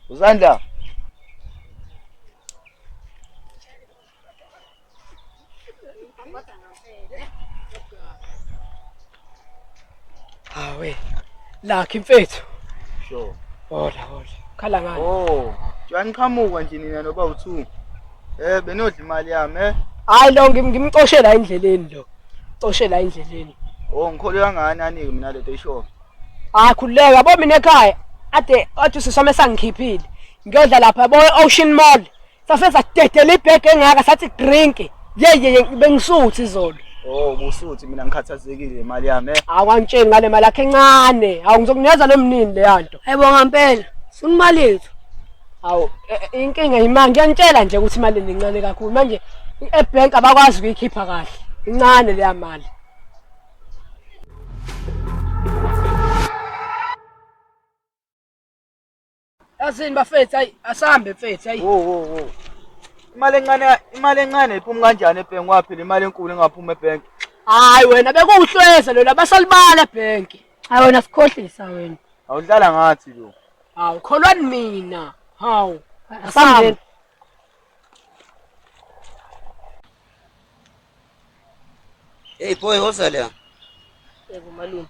Uzandla. Hawe. Lakhe mfethu. Sure. Hola hola. Khala ngani? Oh, uyangiqhamuka nje nina noba u2. Eh benodla imali yami eh. Hayi lo ngimcoshela endleleni lo. Coshela endleleni. Oh ngikholwa ngani anike mina lento isho. hayi khululeka yabo mina ekhaya ade athi usisome sangikhiphile ngiyodla lapha yabo e-ocean mall sase sadedela ibhege engaka sathi drink yeyeye bengisuthi izolo Oh kusuthi mina ngikhathazekile imali yami. eh. awangitsheli ngale mali yakhe encane awu ngizokunikeza lo mnini leya nto ayibonga mpela funa imali yethu awu e- e- inkinga yimali ngiyanitshela nje ukuthi imali le incane kakhulu manje ebhenki abakwazi ukuyikhipha kahle incane leya mali Asini bafethu ayi asambe mfethu ayi. Wo wo wo. Imali encane imali encane iphuma kanjani ebhenki waphi le mali enkulu engaphuma ebhenki? Hayi wena bekuwuhlweza lona basalibala ebhenki. Hayi wena sikhohlisa wena. Awudlala ngathi lo. Hawu kholwani mina. Hawu. Asambeni. Hey boy, woza la. Yebo malume.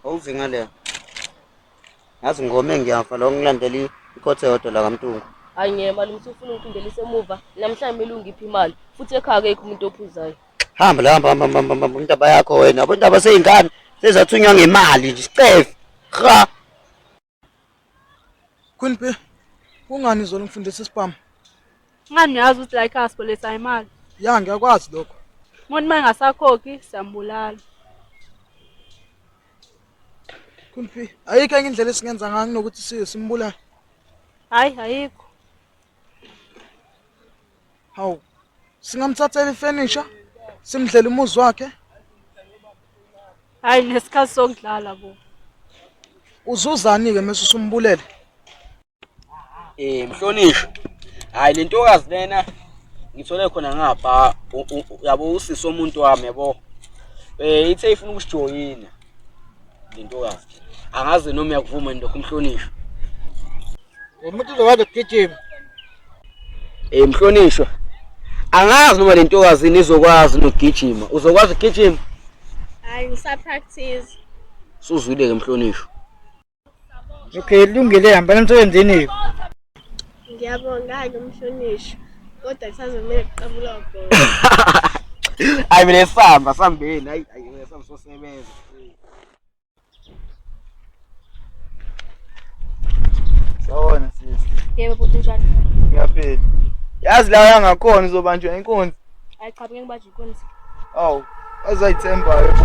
Awuze ngale. Ngazi ngome ngiyafa lo ngilandela ikhothe yodwa la kaMtungu. Hayi ngeke malume usufuna ungiphindele isemuva. Namhlanje kumele ungiphe imali. Futhi ekhaya akekho umuntu ophuzayo. Hamba la hamba hamba hamba hamba intaba yakho wena. Abantu abaseyingane sezathunywa ngemali nje. Scefe. Cha. Queen P, kungani izolo ngifundisa isibhamu? Ngani uyazi ukuthi la ikhaya sibolisa imali. Ya, ngiyakwazi lokho. Umuntu uma engasakhokhi siyambulala. Queen P, ayikho enye indlela esingenza ngayo kunokuthi si- simbulale. Hayi ayikho. Hawu, singamthathela ifurniture, simdlela umuzi wakhe. Hayi nesikhathi sokudlala bo. Uzuzani-ke mese usumbulele? Eh, mhlonishwa. Hayi le ntokazi lena ngithole khona ngapha u- u- u- yabo usisi omuntu wami yabo. Eh, ithe ifuna ukusijoyina. Le ntokazi. Angazi noma uyakuvuma nje lokho mhlonishwa. Umuntu uzokwazi ukugijima. Eh mhlonishwa. Angazi noma lentokazi nizokwazi nokugijima. Uzokwazi ukugijima? Hayi ngisa practice. Suzwile ke mhlonishwa. Okay, lungile hamba emsebenzini. Ngiyabonga ke mhlonishwa. Kodwa kusazomele kuqabula ubhola. Hayi mina sihamba sambeni. Hayi hayi sihamba sosebenza. Sawona sisi. Yebo bhuti njani? Ngiyaphila. Yazi la yangakhona uzobanjwa inkunzi. Hayi cha ngeke ngibanjwe inkunzi. Awu, azayithemba yebo.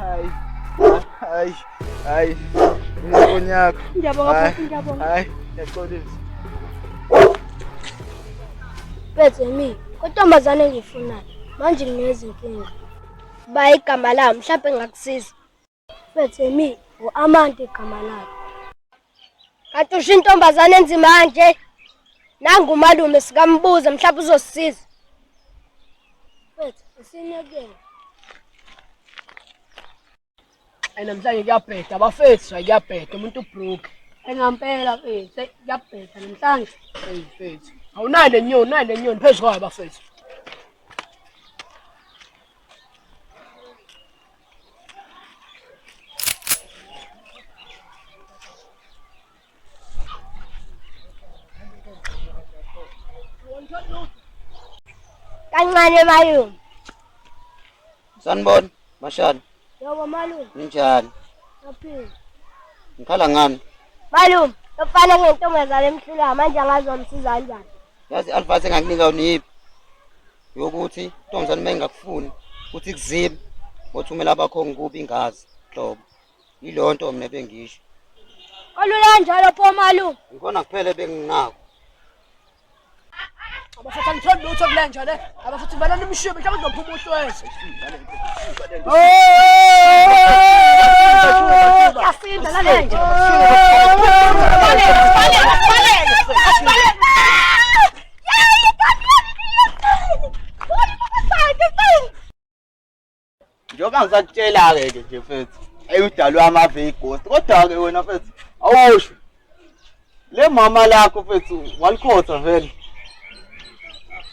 Ay, ay, ay. Ngiyabonga, ngiyabonga, ngiyabonga. Ay, ngiyaxolisa. Bethe mi, kontombazane engiyifunayo. Manje nginezinkinga. Ba igama lami, mhlawumbe ngakusiza. Bethemi u-Amante igama lakhe. Kanti usho intombazane enzima kanje. Nangu umalume sikambuza mhlawumbe uzosisiza. Mfethu usinekele. Ayi namhlanje kuyabheda abafethu ayi kuyabheda umuntu ubroke. Engampela mfethu kuyabheda namhlanje. Hey mfethu. Awunayo le nyoni, unayo le nyoni phezu kwayo abafethu. kancane malume sanibona mashana yebo malume ninjani aphila ngikhala ngani malume lofana ngentombazane emhlulayo manje angazomsiza kanjani yazi i-advice engakunika uniyiphi yokuthi intombazane uma ingakufuni ukuthi kuzibe othumela abakho ngikubi ingazi hlobo yiloo nto mna bengisho olula kanjalo pho malume ngikona kuphele benginako abafathi angitholi lutho kule nja le abafathi valani imishube mhlawumbe uzophuma uhlweze yasinda lale nje njengoba ngisakutshela-ke ke nje mfethu eyi udalwe amave igosi kodwa-ke wena mfethu awusho le mama lakho mfethu walikhotha vele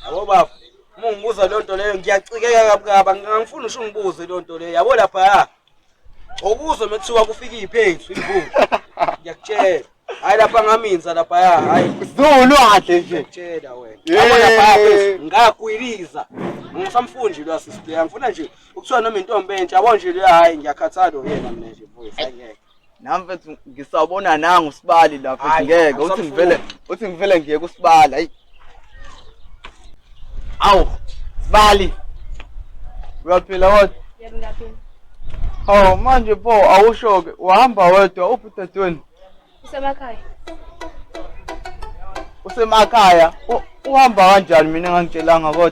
yabo baba uma ungibuza leyo nto leyo ngiyacikeka kabi kabi angifuni usho ungibuze leyo nto leyo yabo lapha Okuzwa mekuthiwa kufika iphensu imvula. Ngiyakutshela. Hayi lapha ngaminza lapha ya. Hayi. Zulu adle nje. Ngiyakutshela wena. Yabo lapha phezulu ngakwiliza. Ngisamfunji lo assist yami. Ngifuna nje ukuthiwa noma intombi entsha yabo nje le hayi ngiyakhathala yena mina nje mfowethu. Hayi ngeke. nami mfethu ngisawubona nangu usibali la mfethu Hhayi, ngeke uthi awusamfuni. ngivele uthi ngivele ngiyeke usibali hayi awu sibali uyaphila kodwa Yebo ngiyaphila. hawu manje pho awusho-ke uhamba wedwa uphi udadewenu Usemakhaya. usemakhaya U- uhamba kanjani mina engangitshelanga kodwa